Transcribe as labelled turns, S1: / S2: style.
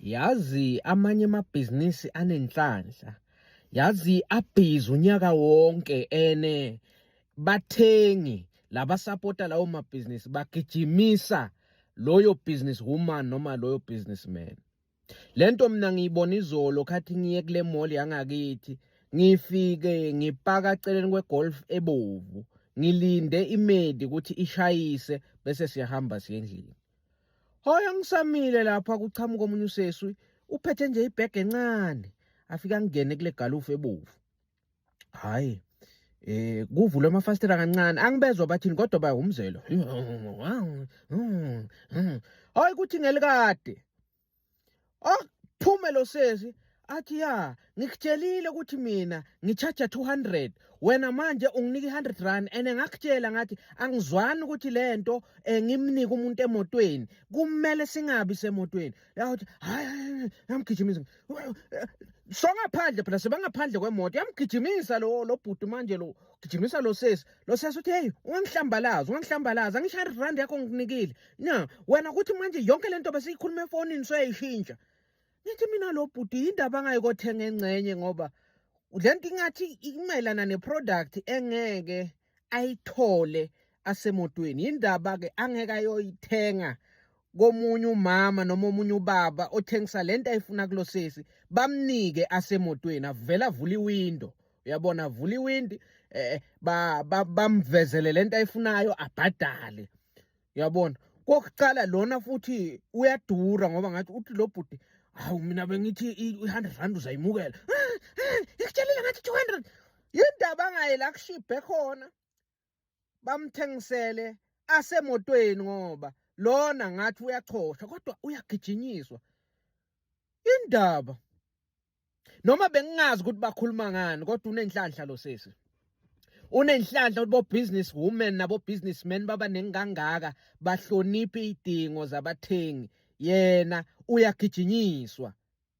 S1: yazi amanye amabhizinisi anenhlanhla yazi abhizi unyaka wonke ene bathengi labasapota lawo mabhizinisi bagijimisa loyo business woman noma loyo businessman lento mina ngiyibona izolo khathi ngiye kule mall yangakithi ngifike ngipaka celeni kwegolf ebovu ngilinde imedi ukuthi ishayise bese siyahamba siye endlini Hoyo ngisamile lapha kuchamuka omunye useswi uphethe nje ibhege encane afika ngene kule galufu ebovu. Hayi eh kuvulwe amafastela kancane angibezwa bathini kodwa baya umzelo. Hayi kuthi ngelikade. okuphume lo sesi athi ya ngikutshelile ukuthi mina ngitshaja 200 wena manje unginike 100 rand ene ngakutshela ngathi angizwani ukuthi lento eh, ngimnike umuntu emotweni kumele singabi semotweni yathi hayi yamgijimisa songaphandle phela sebangaphandle kwemoto yamgijimisa lo lo bhuti manje lo gijimisa lo sesi lo sesi uthi hey ungangihlambalaza ungangihlambalaza ngisho 100 rand yakho nginikile na wena kuthi manje yonke le nto besiyikhuluma efonini soyayishintsha ngithi mina lo bhuti yindaba angayikothenga engcenye ngoba le nto ingathi imayelana ne-product engeke ayithole asemotweni yindaba-ke angeke ayoyithenga komunye umama noma omunye ubaba othengisa le nto ayifuna kulo sesi bamnike asemotweni avele avule iwindo uyabona avule iwindi um eh, eh, bamvezele le nto ayifunayo abhadale yabona kokuqala lona futhi uyadura ngoba ngathi uthi lo bhuti hawu mina bengithi i-hundred rand uzayimukela ngikutshelile ngathi two hundred yindaba angaye la kushibhe khona bamthengisele asemotweni ngoba lona ngathi uyachosha kodwa uyagijinyiswa indaba noma bengingazi ukuthi bakhuluma ngani kodwa unenhlanhla lo sisi unenhlanhla ukuthi bo-business women nabo-businessmen babaningi kangaka bahloniphe iy'dingo zabathengi yena uyagijinyiswa